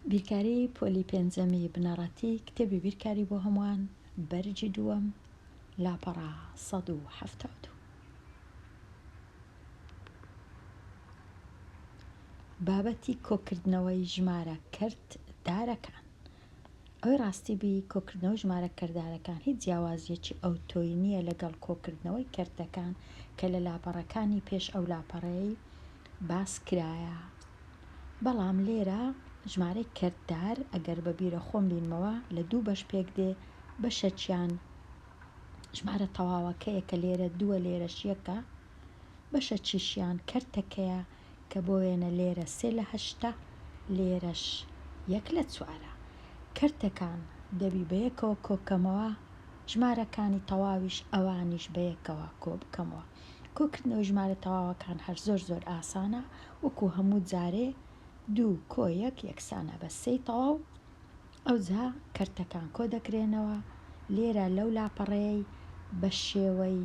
بیرکاری پۆلی پێنجەمی بنەڕەتی کتێبی بیرکاری بۆ هەمووان بەرجی دووەم لاپەڕە 1970 بابەتی کۆکردنەوەی ژمارە کەرت دارەکان ئەوەی ڕاستی بی کۆکردنەوەی ژمارە کەردارەکان هیچ جیاوازییەکی ئەوتۆی نییە لەگەڵ کۆکردنەوەی کەرتەکان کە لە لاپەڕەکانی پێش ئەو لاپەڕەیەی باس کرایە بەڵام لێرە ژمارەی کەرتدار ئەگەر بە بیرە خۆم بینمەوە لە دوو بەش پێک دێ بەشەکیان ژمارە تەواوەکەیە کە لێرە دووە لێرەش یەکە بەشە چیشیان کەرتەکەیە کە بۆ وێنە لێرە سێ لە هەشتە لێرەش یەک لە چوارە کەرتەکان دەبی بەیەکەوە کۆکەمەوە ژمارەکانی تەواویش ئەوانیش بەیەکەوە کۆبکەمەوە کۆکردنەوەی ژمارە تەواوەکان هەر زۆر زۆر ئاسانە وەکو هەموو جارێ دوو کۆ یەک یەکسانە بە سێی تەواو ئەوجا کەرتەکان کۆ دەکرێنەوە، لێرە لەو لاپەڕەیەی بە شێوەی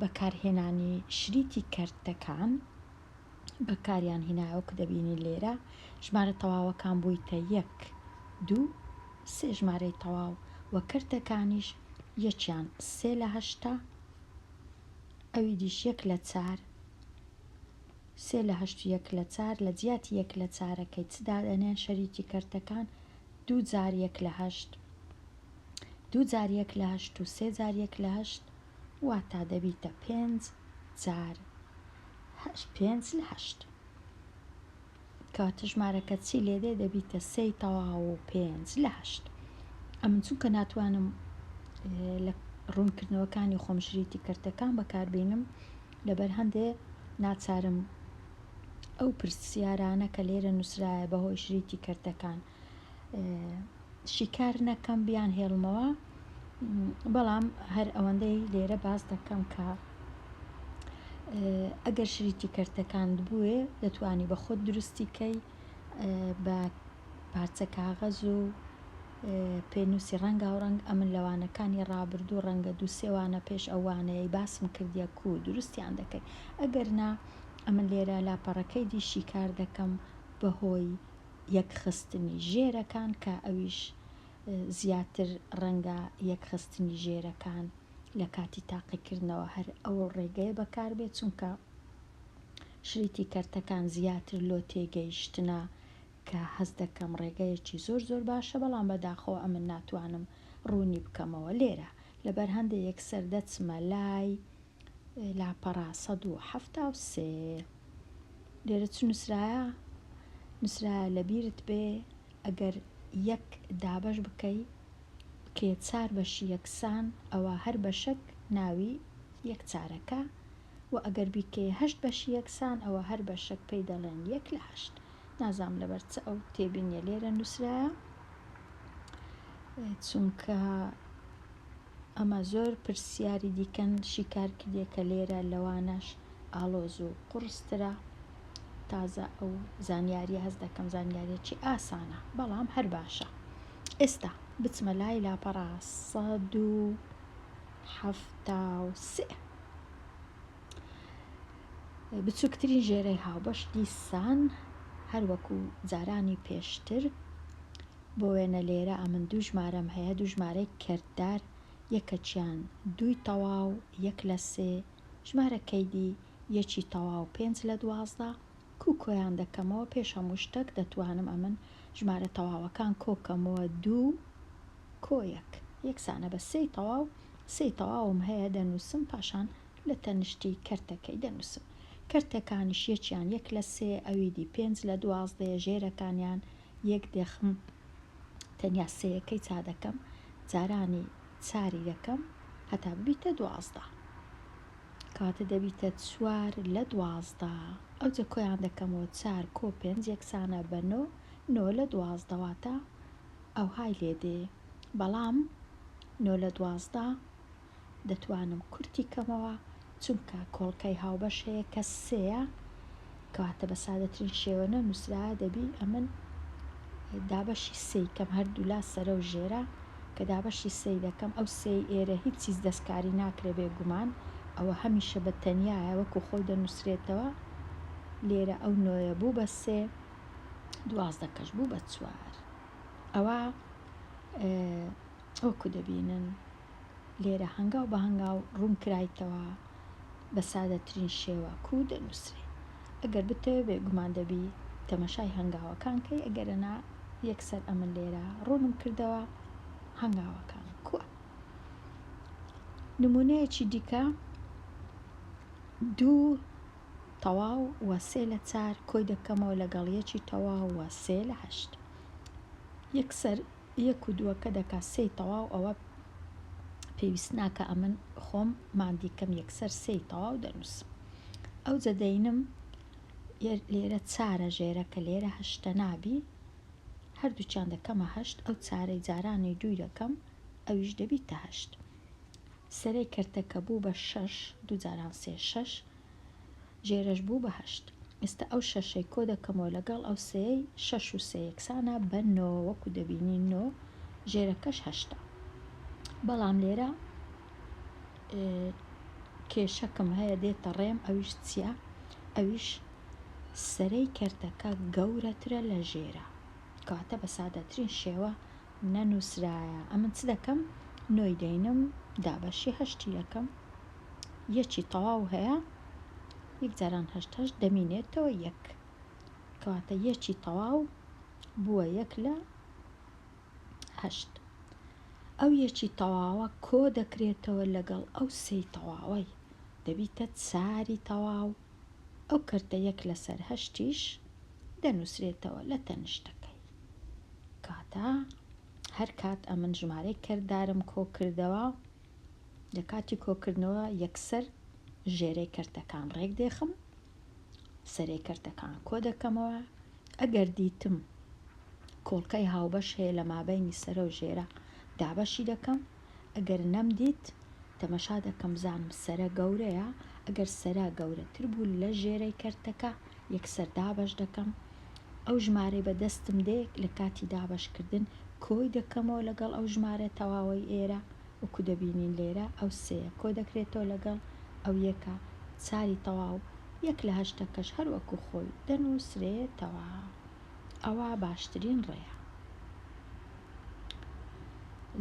بەکارهێنانی شریتی کەرتەکان بەکاریان هینایەوە کە دەبینین لێرە ژمارە تەواوەکان بوویتە یەک دوو سێ ژمارەی تەواو و کەرتەکانیش یەکیان سێ لە هەشتا ئەوی دیش یەک لە چار سێ لە هەشت و یەک لە چار لە جیاتی یەک لە چارەکەی چ دادەنێن شەریکی کەرتەکان؟ دوو جار یەک لە هەشت دوو جار یەک لە هەشت و سێ جار یەک لە هەشت واتا دەبیتە پێنج جار هەشت پێنج لە هەشت کەواتە ژمارەکە چی لێ دێ دەبیتە سێی تەواو و پێنج لە هەشت ئەمن چونکە ناتوانم لە ڕوونکردنەوەکانی خۆم شریتی کەرتەکان بەکاربینم لەبەر هەندێ ناچارم ئەو پرسیارانە کە لێرە نووسرایە بەهۆی شریتی کردەکان شیکار نەکەم بیان هێڵمەوە بەڵام هەر ئەوەندەی لێرە باس دەکەم کە ئەگەر شریتی کردەکاند بووێ دەتوانی بە خۆت دروستیکەی بە پارچە کاغەز و پێنووسی ڕەنگاوڕەنگ، ئەمن لە وانەکانی ڕابردوو ڕەنگە دوو سێ وانە پێش ئەو وانەیەی باسم کردیە کوو دروستیان دەکەی، ئەگەر نا ئەمن لێرە لاپەڕەکەی دی شیکار دەکەم بە هۆی یەک خستنی ژێرەکان کە ئەویش زیاتر ڕەنگە یەک خستنی ژێرەکان لە کاتی تاقی کردنەوە هەر ئەو ڕێگەیە بەکار بێ چونکە شریتی کەرتەکان زیاتر لۆ تێگەیشتنە کە هەست دەکەم ڕێگەیەکی زۆر زۆر باشە بەڵام بەداخەوە ئەمن ناتوانم ڕوونی بکەمەوە لێرە لەبەر هەندێ یەکسەر دەچمە لای لاپەڕە سەد و حەفتا و سێ لێرە چ نووسرایە نووسرایە لەبیرت بێ ئەگەر یەک دابەش بکەی بکرێ چار بەشی یەکسان ئەوە هەر بەشەک ناوی یەک چارەکە و ئەگەر بیکەی هەشت بەشی یەکسان ئەوە هەر بەشەک پێی دەڵێن یەک لە هەشت نازانم لەبەر چ ئەو تێبینیە لێرە نووسرایە چونکە ئەمە زۆر پرسیاری دیکەن شیکار کردێ کە لێرە لەوانەش ئالۆز و قڕسترە تازە ئەو زانیاری هەست دەکەم زانیارێکی ئاسانە بەڵام هەر باشە ئێستا بچمە لای لاپەڕا سەد و حەفتا و سێ بچووکترین ژێرەی هاوبەش دیسان هەر وەکو جارانی پێشتر بۆ وێنە لێرە ئەمن دوو ژمارەم هەیە دوو ژمارەی کردار یەکەکیان دووی تەواو یەک لە سێ ژمارە کەیدی یەکی تەواو پێنج لە دوازدە کوو کۆیان دەکەمەوە پێش هەموو شتەک دەتوانم ئەمن ژمارە تەواوەکان کۆکەمەوە دوو کۆ یەک یەکسانە بە سێی تەواو سێی تەواوم هەیە دەنووسم پاشان لە تەنشتی کەرتەکەی دەنووسم. کەرتەکانیش یەکیان یەک لە سێ، ئەوی دی پێنج لە دوازدەیە، ژێرەکانیان یەک دەخم، تەنیا سێیەکەی چا دەکەم، جارانی چاری دەکەم هەتا ببیتە دوازدە. کەواتە دەبیتە چوار لە دوازدە. ئەوجە کۆیان دەکەمەوە، چار کۆ پێنج یەکسانە بە نۆ، نۆ لە دوازدە واتە ئەوهای لێ دێ. بەڵام نۆ لە دوازدە دەتوانم کورتی کەمەوە چونکە کۆڵکەی هاوبەش هەیە کە سێیە کەواتە بە سادەترین شێوە نە نووسراە دەبی ئەمن دابەشی سێی کەم هەردوولا سەرە و ژێرە کە دابەشی سێی دەکەم ئەو سێی ئێرە هیچ چیز دەستکاری ناکرێ بێ گومان ئەوە هەمیشە بە تەنیایە وەکو خۆی دەنووسرێتەوە لێرە ئەو نۆیە بوو بە سێ دوازدە کەش بوو بە چوار ئەوە وەکو دەبینن لێرە هەنگاو بە هەنگاو ڕوون کرایتەوە بە سادەترین شێوە کوو دەنووسرێ ئەگەر بتەوێ بێگومان دەبی تەمەشای هەنگاوەکان کەی ئەگەرنا یەکسەر ئەمن لێرە ڕوونم کردەوە هەنگاوەکان کووە نمونەیەکی دیکە دوو تەواو و سێ لە چار کۆی دەکەمەوە لەگەڵ یەکی تەواو و سێ لە هەشت یەکسەر یەک و دووەکە دەکا سێی تەواو ئەوە پێویست ناکا ئەمن خۆم ماندی کەم یەکسەر سێی تەواو دەنووسم ئەوجە دەینم لێرە چارە ژێرە کە لێرە هەشتە نابی هەردووچان دەکەمە هەشت ئەو چارەی جارانی دووی دەکەم ئەویش دەبیتە هەشت سەرەی کەرتەکە بوو بە شەش دوو جاران سێ شەش ژێرەش بوو بە هەشت. ئێستا ئەو شەشەی کۆ دەکەمەوە لەگەڵ ئەو سێیەی، شەش و سێ یەکسانە بە نۆ، وەکو دەبینین نۆ، ژێرەکەش هەشتە. بەڵام لێرە کێشەکم هەیە دێتە ڕێم ئەویش چییە؟ ئەویش سەرەی کەرتەکە گەورەترە لە ژێرە. کەواتە بە سادەترین شێوە نەنووسرایە. ئەمن چ دەکەم؟ نۆی دەینم دابەشی هەشتی دەکەم. یەکی تەواو هەیە یەک جاران هەشت هەشت دەمینێتەوە یەک کەواتە یەکی تەواو بووە یەک لە هەشت ئەو یەکی تەواوە کۆ دەکرێتەوە لەگەڵ ئەو سێ تەواوەی دەبیتە چاری تەواو ئەو کردە یەک لەسەر هەشتیش دەنووسرێتەوە لە تەنیشتەکەی کاتە هەر کات ئەمن ژمارەی کردارم کۆ کردەوە لە کاتی کۆکردنەوە یەکسەر ژێرەی کەرتەکان ڕێک دێخم سەرەی کەرتەکان کۆ دەکەمەوە ئەگەر دیتم کۆڵکەی هاوبەش هەیە لە مابینی سەرە و ژێرە دابەشی دەکەم ئەگەر نەمدیت تەمەشا دەکەم زانم سەرە گەورەیە ئەگەر سەرا گەورەتر بوو لە ژێرەی کەرتەکە یەکسەر دابەش دەکەم ئەو ژمارەی بە دەستم دێ لە کاتی دابەشکردن کۆی دەکەمەوە لەگەڵ ئەو ژمارە تەواوەی ئێرە وەکو دەبینین لێرە ئەو سێیە کۆ دەکرێتەوە لەگەڵ ئەو یەکە چاری تەواو یەک لە هەشتەکەش هەر وەکو خۆی دەنووسرێتەوە ئەوە باشترین ڕێیە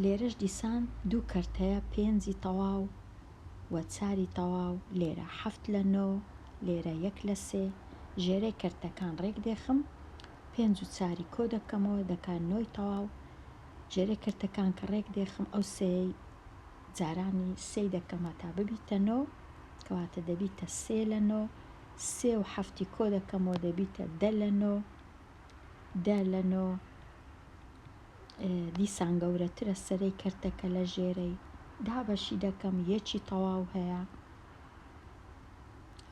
لێرەش دیسان دوو کەرتەیە پێنجی تەواو و چاری تەواو لێرە حەفت لە نۆ لێرە یەک لە سێ ژێرەی کەرتەکان ڕێک دێخم پێنج و چاری کۆ دەکەمەوە دەکا نۆی تەواو ژێرەی کەرتەکان کە ڕێک دێخم ئەو سێی جارانی سێی دەکەم هەتا ببیتە نۆ کەواتە دەبیتە سێ لە نۆ سێ و حەفتی کۆ دەکەمەوە دەبیتە دە لە نۆ دە لە نۆ دیسان گەورەترە سەرەی کەرتەکە لە ژێرەی دابەشی دەکەم یەکی تەواو هەیە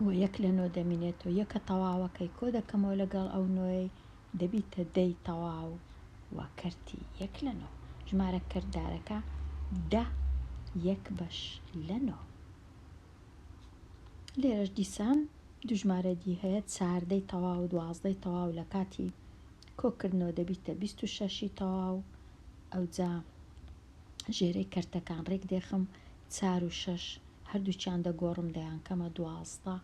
و یەک لە نۆ دەمینێت و یەکە تەواوەکەی کۆ دەکەمەوە لەگەڵ ئەو نۆی دەبیتە دەی تەواو و کەرتی یەک لە نۆ ژمارە کردارەکە دە یەک بەش لە نۆ لێرەش دیسان دوژمارە دی هەیە چاردەی تەواو دوازدەی تەواو لە کاتی کۆکردنەوە دەبیتە بیست و شەش ی تەواو ئەوجا ژێرەی کەرتەکان ڕێک دێخم چار و شەش هەردووکیان دەگۆڕم دەیانکەمە دوازدە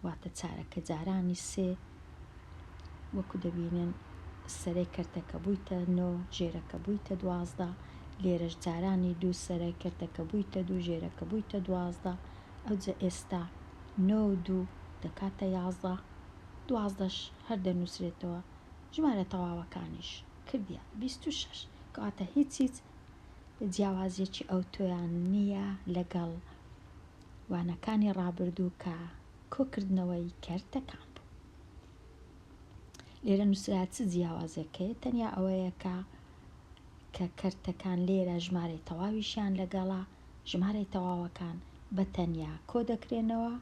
واتە چارەکە جارانی سێ وەکو دەبینن سەرەی کەرتەکە بوویتە نۆ ژێرەکە بوویتە دوازدە لێرەش جارانی دوو سەرای کەرتەکە بوویتە دوو ژێرەکە بوویتە دوازدە ئەوجە ئێستا نۆ و دوو دەکاتە یازدە دوازدەش هەر دەنووسرێتەوە ژمارە تەواوەکانیش کردیە بیست و شەش کەواتە هیچ هیچ جیاوازیەکی ئەوتۆیان نییە لەگەڵ وانەکانی ڕابردوو کە کۆکردنەوەی کەرتەکان بوو لێرە نووسرا چ جیاوازەکەی تەنیا ئەوەیە کە کە کەرتەکان لێرە ژمارەی تەواویشیان لەگەڵە ژمارەی تەواوەکان بە تەنیا کۆ دەکرێنەوە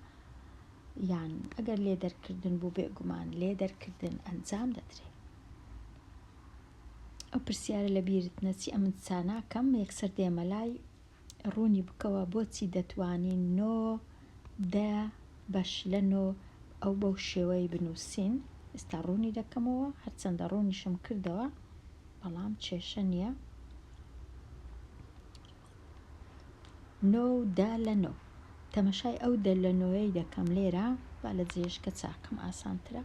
یان ئەگەر لێ دەرکردن بوو بێگومان لێ دەرکردن ئەنجام دەدرێت ئەو پرسیارە لە بیرت نەچی ئەمن چاناکەم یەکسەر دێمە لای ڕوونی بکەوە بۆچی دەتوانین نۆ دە بەش لە نۆ ئەو بەو شێوەی بنووسین ئێستا ڕوونی دەکەمەوە هەرچەندە ڕوونیشم کردەوە بەڵام کێشە نییە نۆ و دە لە نۆ. تەمەشای ئەو دە لە نۆیەی دەکەم لێرە، با لە جێیەشکە چاکەم ئاسانترە.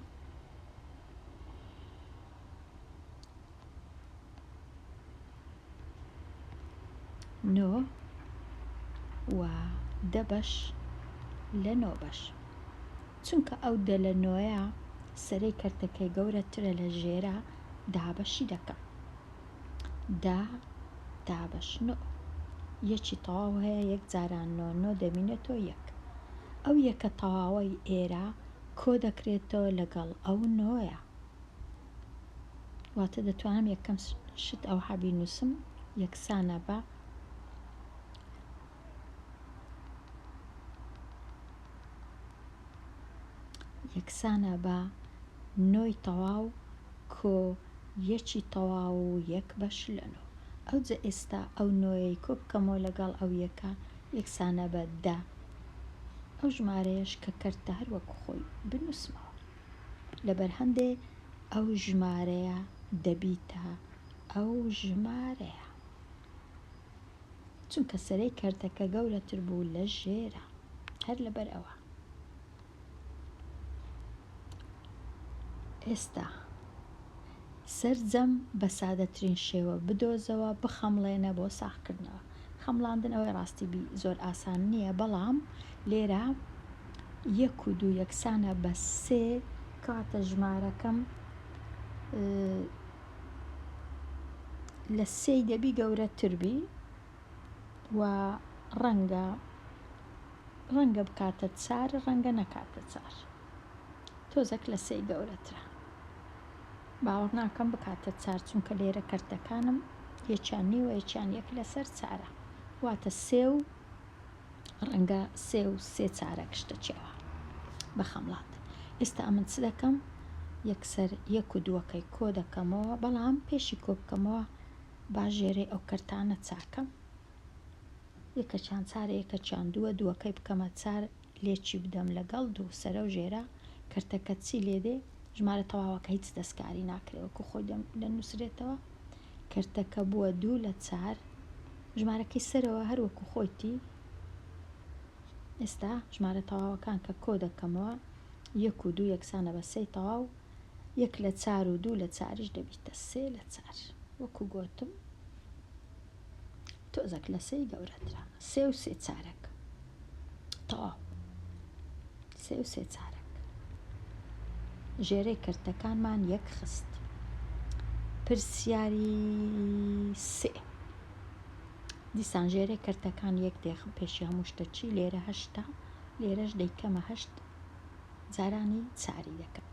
نۆ و دە بەش لە نۆ بەش. چونکە ئەو دە لە نۆیە سەرەی کەرتەکەی گەورەترە لە ژێرە دابەشی دەکەم. دا دابەش نۆ یەکی تەواو هەیە یەک جاران نۆ نۆ دەبینێتەوە یەک ئەو یەکە تەواوەی ئێرە کۆ دەکرێتەوە لەگەڵ ئەو نۆیە واتە دەتوانم یەکەم شت ئەو حەبی نووسم یەکسانە بە یەکسانە بە نۆی تەواو کۆ یەکی تەواو و یەک بەش لە نۆ. ئەوجە ئێستا ئەو نۆیەی کۆ بکەمەوە لەگەڵ ئەو یەکە یەکسانە بە دە. ئەو ژمارەیەش کە کەرتە هەر وەکو خۆی بنووسمەوە. لە بەرهەندێ ئەو ژمارەیە دەبیتە ئەو ژمارەیە. چونکە سەرەی کەرتەکە گەورەتر بوو لە ژێرە هەر لەبەر ئەوە ئێستا سرجەم بە سادەترین شێوە بدۆزەوە بخەمڵێنە بۆ ساخکردنەوە خەمڵاندن ئەوەی ڕاستی بی زۆر ئاسان نییە بەڵام لێرە یەک و دوو یەکسانە بە سێ کاتە ژمارەکەم لە سێی دەبی گەورەتربی و ڕەنگە ڕەنگە بکاتە چار ڕەنگە نەکاتە چار تۆزەک لە سێی گەورەترە باوەڕ ناکەم بکاتە چار چونکە لێرە کەرتەکانم یەکیان نیوە یەکیان یەک لەسەر چارە واتە سێ و ڕەنگە سێ و سێ چارەک شتە چێوە بە خەمڵات ئێستا من چ دەکەم یەکسەر یەک و دووەکەی کۆ دەکەمەوە بەڵام پێشی کۆ بکەمەوە با ژێرەی ئەو کەرتانە چاکەم یەکەچیان چارە یەکەچیان دووە دووەکەی بکەمە چار لێکی بدەم لەگەڵ دوو سەرە و ژێرە کەرتەکە چی لێ دێ ژمارە تەواوەکە هیچ دەستکاری ناکرێ وەکو خۆی دەنووسرێتەوە کەرتەکە بووە دوو لە چار ژمارەکەی سەرەوە هەر وەکو خۆیتی ئێستا ژمارە تەواوەکان کە کۆ دەکەمەوە یەک و دوو یەکسانە بە سێی تەواو یەک لە چار و دوو لە چاریش دەبیتە سێ لە چار وەکو گۆتم تۆزەک لە سێی گەورەترە سێ و سێ چارەک تەواو سێ و سێ چارەک ژێرەی کەرتەکانمان یەک خست. پرسیاری سێ دیسان ژێرەی کەرتەکان یەک دێخم پێشی هەموو شتە چی لێرە هەشتا لێرەش دەیکەمە هەشت جارانی چاری دەکەم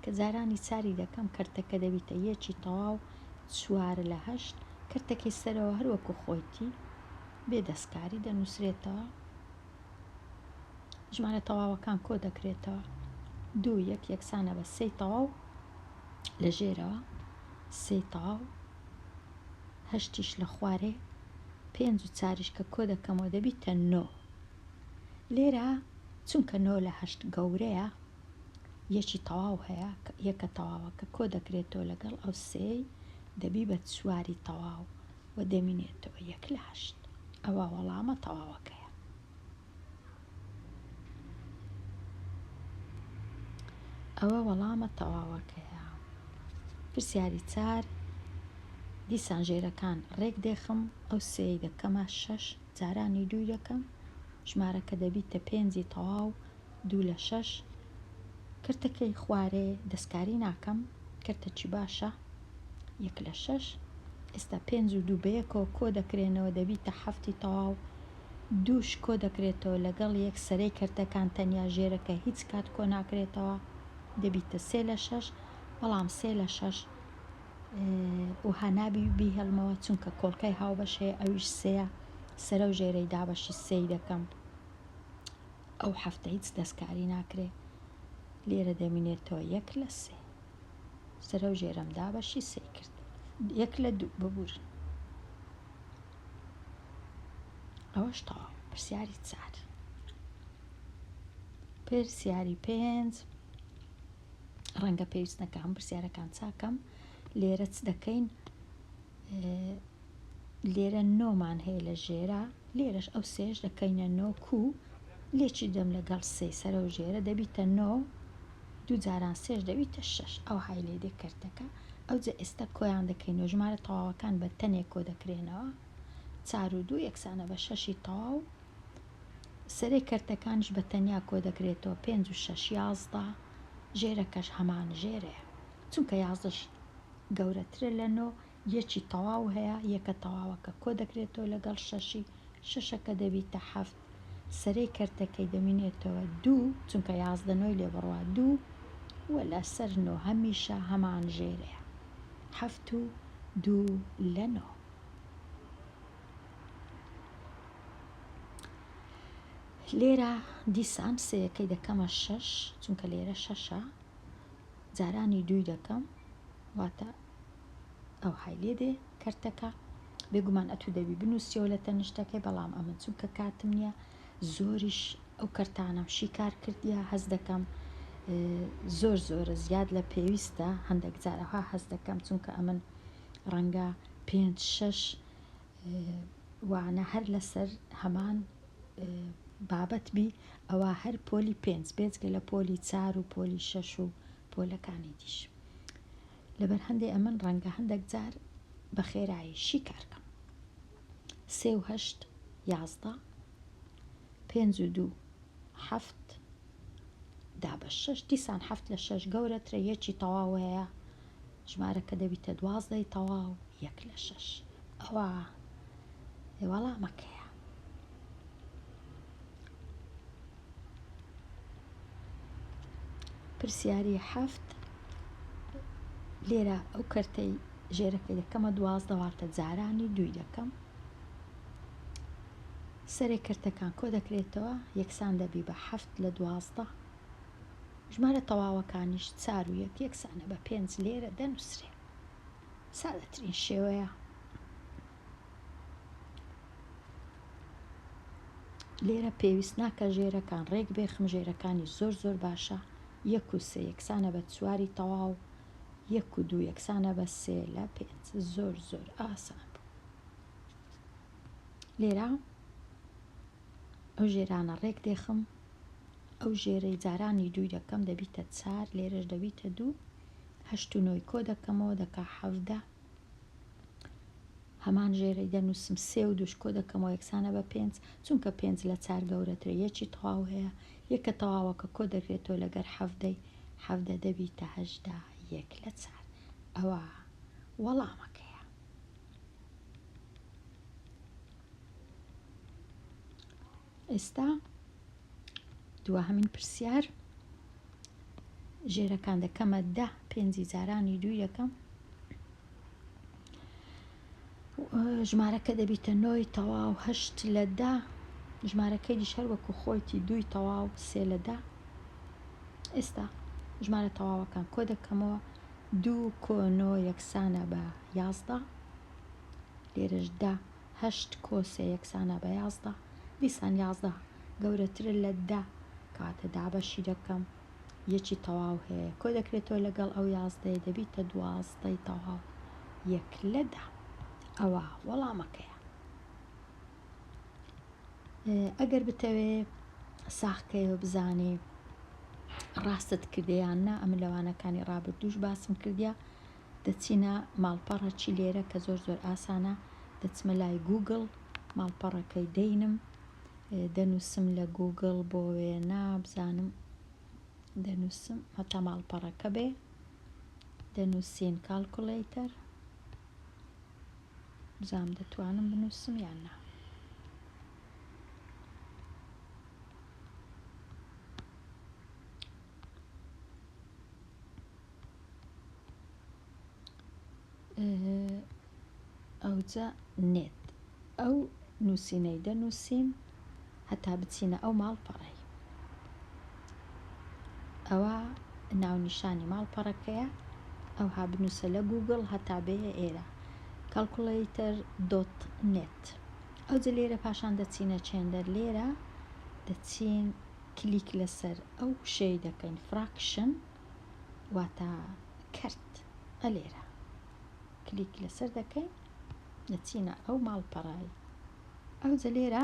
کە جارانی چاری دەکەم کەرتەکە دەبیتە یەکی تەواو چوار لە هەشت کەرتەکەی سەرەوە هەروەکو خۆیتی بێ دەستکاری دەنووسرێتەوە ژمارە تەواوەکان کۆ دەکرێتەوە دوو یەک یەکسانە بە سێی تەواو لە ژێرەوە سێی تەواو هەشتیش لە خوارێ پێنج و چاریش کە کۆ دەکەمەوە دەبیتە نۆ لێرە چونکە نۆ لە هەشت گەورەیە یەکی تەواو هەیە یەکە تەواوە کە کۆ دەکرێتەوە لەگەڵ ئەو سێی دەبی بە چواری تەواو و دەمینێتەوە یەک لە هەشت ئەوە وەڵامە تەواوەکەیە ئەوە وەڵامە تەواوەکەیە پرسیاری چار دیسان ژێرەکان ڕێک دێخم ئەو سێی دەکەمە شەش جارانی دووی دەکەم ژمارەکە دەبیتە پێنجی تەواو دوو لە شەش. کرتەکەی خوارێ دەستکاری ناکەم. کرتە چی باشە؟ یەک لە شەش. ئێستا پێنج و دوو بەیەکەوە کۆ دەکرێنەوە دەبیتە حەفتی تەواو. دووش کۆ دەکرێتەوە لەگەڵ یەک سەرەی کرتەکان تەنیا ژێرەکە هیچ کات کۆ ناکرێتەوە دەبیتە سێ لە شەش بەڵام سێ لە شەش وها نابی بیهێڵمەوە چونکە کۆڵکەی هاوبەش هەیە ئەویش سێە سەرە و ژێرەی دابەشی سێی دەکەم. ئەو حەفتە هیچ دەستکاری ناکرێ لێرە دەمینێتەوە یەک لە سێ سرە و ژێرم دا بەشی سێی کرد یەک لە دوو ببورن ئەوەش تەواو پرسیاری چار پرسیاری پێنج ڕەنگە پێویست نەکەم پرسیارەکان چاکەم لێرە چ دەکەین لێرە نۆ مان هەیە لە ژێرە لێرەش ئەو سێش دەکەینە نۆ کو لێکی دەم لەگەڵ سێ سەرە و ژێرە دەبیتە نۆ دوو جاران سێش دەبیتە شش ئەو های لێ دێ کەرتەکە ئەو جە ئێستا کۆیان دەکەینەوە ژمارە تەواوەکان بە تەنێک کۆ دەکرێنەوە چار و دوو یەکسانە بە شەشی تەواو سەرێ کەرتەکانش بە تەنیا کۆ دەکرێتەوە پێنج و شش یازدە ژێرەکەش هەمان ژێرەیە چونکە یازدەش گەورەترە لە نۆ یەکی تەواو هەیە، یەکە تەواوەکە کۆدەکرێتەوە لەگەڵ شەشی، شەشەکە دەبیتە حەفت، سەرەی کەرتەکەی دەمینێتەوە دوو، چونکە یازدە نۆی لێ بڕوا دوو و لەسەر نۆ هەمیشە هەمان ژێرەیە، حەفت و دوو لە نۆ. لێرە دیسان سێیەکەی دەکەمە شەش، چونکە لێرە شەشە، جارانی دووی دەکەم، واتە. ئەوهای لێ دێ کەرتەکە بێگومان ئەتوو دەبی بنووسیەوە لە تەنیشتەکەی بەڵام ئەمن چونکە کاتم نییە زۆریش ئەو کەرتانەم شیکار کردیا هەز دەکەم زۆر زۆرە زیاد لە پێویستە هەندێک جارەها هەز دەکەم چونکە ئەمن ڕەنگە پێ شش وانە هەر لەسەر هەمان بابەت بی ئەوە هەر پۆلی پێنج بێجگە لە پۆلی چار و پۆلی شەش و پۆلەکانی دیش لەبەر هەندێ ئەمن ڕەنگە هەندەک جار بە خێرایشی کار کەم سێ و هەشت یازدە پێنج و دوو حەفت دا بە شەش دیسان حەفت لە شەش گەورەترە یەکی تەواو هەیە ژمارەکە دەبیتە دوازدەی تەواو یەک لە شەش ئەوە وەڵامەکەیە پرسیاری حەفت، لێرە ئەو کەرتەی ژێرەکەی دەکەمە دوازدە واتە جارانی دووی دەکەم سەرێک کەرتەکان کۆ دەکرێتەوە یەکسان دەبی بە حەفت لە دوازدە ژمارە تەواوەکانیش چار و یەک یەکسانە بە پێنج لێرە دەنووسرێ سادەترین شێوەیە لێرە پێویست ناکە ژێرەکان ڕێک بێخم ژێرەکانی زۆر زۆر باشە یەک و سێ یەکسانە بە چواری تەواو یەک و دوو یەکسانە بە سێ لە پێنج زۆر زۆر ئاسان بوو لێرە ئەو ژێرانە ڕێک دێخم ئەو ژێرەی جارانی دووی دەکەم دەبیتە چار لێرەش دەبیتە دوو هەشت و نۆی کۆ دەکەمەوە دەکا حەفدە هەمان ژێرەی دەنووسم سێ و دووش کۆ دەکەمەوە یەکسانە بە پێنج چونکە پێنج لە چار گەورەترە یەکی تەواو هەیە یەکە تەواوەکە کۆ دەکرێتەوە لەگەر حەڤدەی حەڤدە دەبیتە هەشدا یەک لە چار ئەوە وەڵامەکەیە ئێستا دواهەمین پرسیار ژێرەکان دەکەمە دە پێنجی جارانی دوو یەکەم ژمارەکە دەبیتە نۆی تەواو هەشت لە دا ژمارەکەی دیش هەر وەکو خۆیتی دووی تەواو سێ لە دا ئێستا ژمارە تەواوەکان کۆ دەکەمەوە دوو کۆنۆ یەکسانە بە یازدە لێرەشدا هەشت کۆسێ یەکسانە بە یازدە دیسان یازدە گەورەترە لە دە کەواتە دابەشی دەکەم یەکی تەواو هەیە کۆ دەکرێتەوە لەگەڵ ئەو یازدەیە دەبیتە دوازدەی تەواو یەک لە دە ئەوە وەڵامەکەیە ئەگەر بتەوێ ساخکەیەوە بزانێ ڕاستت کردیان نا ئەم لەوانەکانی ڕابردووش باسم کردیا دەچینە ماڵپەڕە چی لێرە کە زۆر زۆر ئاسانە دەچمە لای گوگل ماڵپەڕەکەی دەینم دەنووسم لە گوگل بۆ وێنە بزانم دەنووسم هەتا ماڵپەڕەکە بێ دەنووسین کاڵکوڵەیتەر بزانم دەتوانم بنووسم یان نا ئەوجا نێت ئەو نووسینەی دەنووسین هەتا بچینە ئەو ماڵپەڕی ئەوە ناونیشانی ماڵپەڕەکەیە ئەو ها بنووسە لە گوگڵ هەتا بێ ئێرە کەلکوڵیتەر دۆت نێت ئەوجە لێرە پاشان دەچینە چێندەر لێرە دەچین کلیک لەسەر ئەو شەی دەکەین فراکشن واتە کەرت ە لێرە کلیک لەسەر دەکەین دەچینە ئەو ماڵپەڕەی ئەوجە لێرە